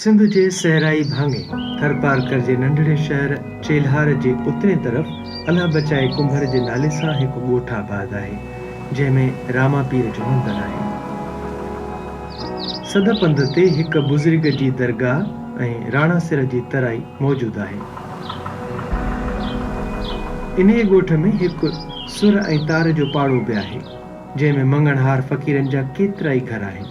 سنڌ جي صحرائي ڀاڱي ٿرپارڪر جي ننڍڙي شهر چيلهار جي اترين طرف الله بچائي ڪنڀر جي نالي سان هڪ ڳوٺ آباد آهي، جنهن ۾ راما پير جو مندر آهي. سڌ پنڌ تي هڪ بزرگ جي درگاهه ۽ راڻا سر جي ترائي موجود آهي. انهيء ڳوٺ ۾ هڪ سر ۽ تار جو پاڙو به آهي، جنهن ۾ مڱڻهار فقيرن جا ڪيترائي گهر آهن.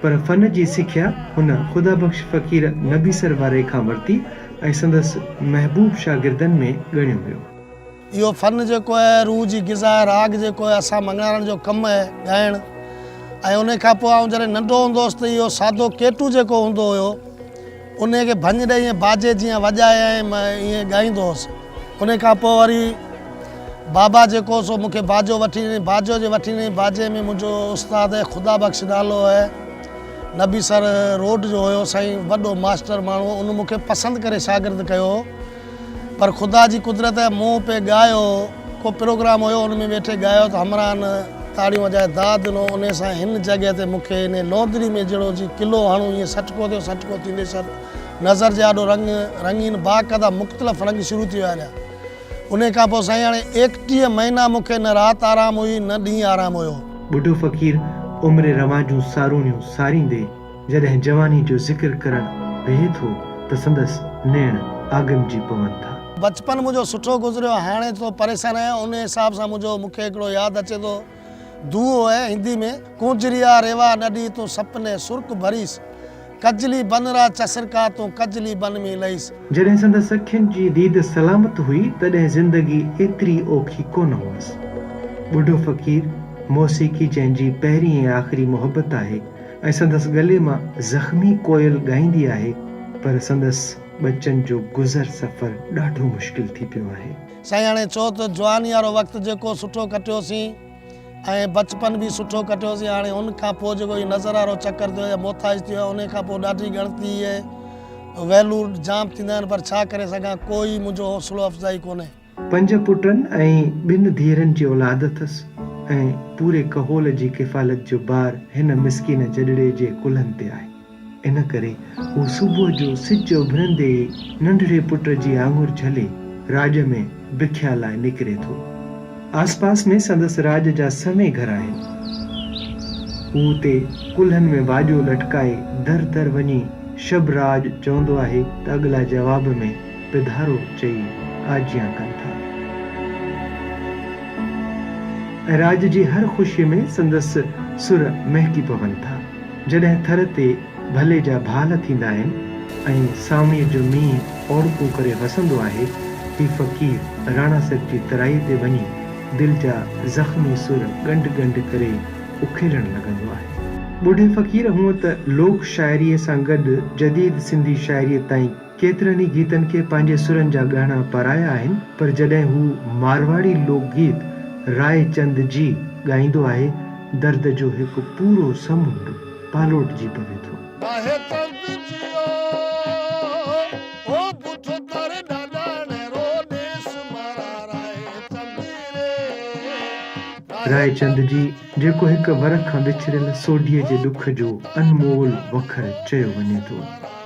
پر فن جي سکيا هن خدا بخش فقير نبيسر واري کان ورتي ۽ سندس محبوب شاگردن ۾ ڳڻيو ويو. اهو فن جيڪو اهي روح جي غذا اهي راڳ جيڪو اهي اسان مڱڻارن جو ڪم اهي ڳائڻ ۽ انهي کان پوء آئون جڏهن ننڍو هوندو هوس ته اهو سادو ڪيٽو جيڪو هوندو هيو. انهيء کي ڀڃ ڏئي ۽ باجي جيان وڄائي ۽ مان ائين ڳائيندو هوس. انهيء کان پوء وري بابا جيڪو هو سو مون کي باجو وٺي ڏنائين. باجو جي وٺي ڏنائين باجي ۾ منهنجو استاد خدا بخش نالو هو نبي سر روڊ جو هيو سائين وڏو ماسٽر ماڻهو هو ان مون کي پسند ڪري شاگرد ڪيو هو. پر خدا جي قدرت ۽ مون پئي ڳايو. ڪو پروگرام هيو ان ۾ ويٺي ڳايو ته همراهن تاڙيون وڄائي داد ڏنو. انهي سان هن جڳهه تي مون کي انهي لونڌڙي ۾ جهڙو جي قلعو هڻو ائين سٽڪو ٿيو سٽڪو ٿيندي سر نظر جي آڏو رنگ رنگين باقدا مختلف رنگ شروع ٿي ويا رهيا. انهي کان پوء سائين هاڻي ايڪٽيهه مهينا مون کي نه رات آرام هئي نه ڏينهن آرام هيو. ٻڍو فقير عمر رواجون سارونيون ساريندي. جڏهن جواني جو ذڪر ڪرڻ ويهي ٿو ته سندس نيڻ آگمجي پون ٿا. بچپن منهنجو سٺو گذريو هاڻي ٿورو پريشان آهيان انهي حساب سان منهنجو مونکي هڪڙو ياد اچي ٿو دوهو آهي هندي ۾ ڪونجريا ريوا نڏي تون سپني سرڪ ڀريس ڪجلي بن را چسرڪا تون ڪجلي بن مين لئيس. جڏهن سندس اکين جي ديد سلامت هئي تڏهن زندگي ايتري اوکي ڪونه هئس. ٻڍو فقير، موسيقي جنهن جي پهرين ۽ آخري محبت آهي، ۽ سندس ڳلي مان زخمي ڪوئل ڳائيندي آهي پر سندس ٻچن جو گذر سفر ڏاڍو مشڪل ٿي پيو آهي. سائين هاڻي چئو ته جواني وارو وقت جيڪو سٺو ڪٽيوسين ۽ بچپن به سٺو ڪٽيوسين هاڻي ان کان پوء جيڪو هي نظر وارو چڪر ٿيو يا محتاج ٿيو ان کان پوء ڏاڍي ڳڻتي هي ويلور جام ٿيندا آهن پر ڇا ڪري سگهان ڪو ئي منهنجو حوصلو افزائي ڪونهي. پنج پٽن ۽ ٻن ڌيئرن جي اولاد اٿس ۽ پوري ڪهول جي ڪفالت جو بار هن مسڪين جڏڙي جي ڪلهن تي آهي. ان ڪري هو صبح جو سج اڀرندي ئي ننڍڙي پٽ جي آڱر جهلي راڄ ۾ بکيا لاء نڪري ٿو. آس پاس ۾ سندس راڄ جا سوين گهر آهن. هو اتي ڪلهن ۾ واڄو لٽڪائي در در وڃي شب راڄ چوندو آهي ته اڳلا جواب ۾. پڌارو چئي آجيان ڪن ٿا ۽ راڄ جي هر خوشيء ۾ سندس سر مهڪي پون ٿا. جڏهن ٿر تي ڀلي جا ڀال ٿيندا آهن ۽ سانوڻيء جو مينهن اوڙڪون ڪري وسندو آهي، هي فقير راڻا صيب جي ترائيء تي وڃي دل جا زخمي سر ڳنڍ ڳنڍ ڪري اکيڙڻ لڳندو آهي. ٻڍي فقير هونء ته لوڪ شاعريء سان گڏ جديد سنڌي شاعريء تائين ڪيترن ئي گيتن کي پنهنجي سرن جا ڳهڻا پرايا آهن، پر جڏهن هو مارواڙي لوڪ گيت راء چند جي ڳائيندو آهي، درد جو هڪ پورو سمنڊ پالوٽجي پوي ٿو. آهي تڙپ جيئو او پٺ ڪر ڏاڏاڻي رو ڏيس مارا راء چند ري. راء چند جي جيڪو هڪ ورق کان وڇڙيل سوڍي جي ڏک جو انمول وکر چيو وڃي ٿو،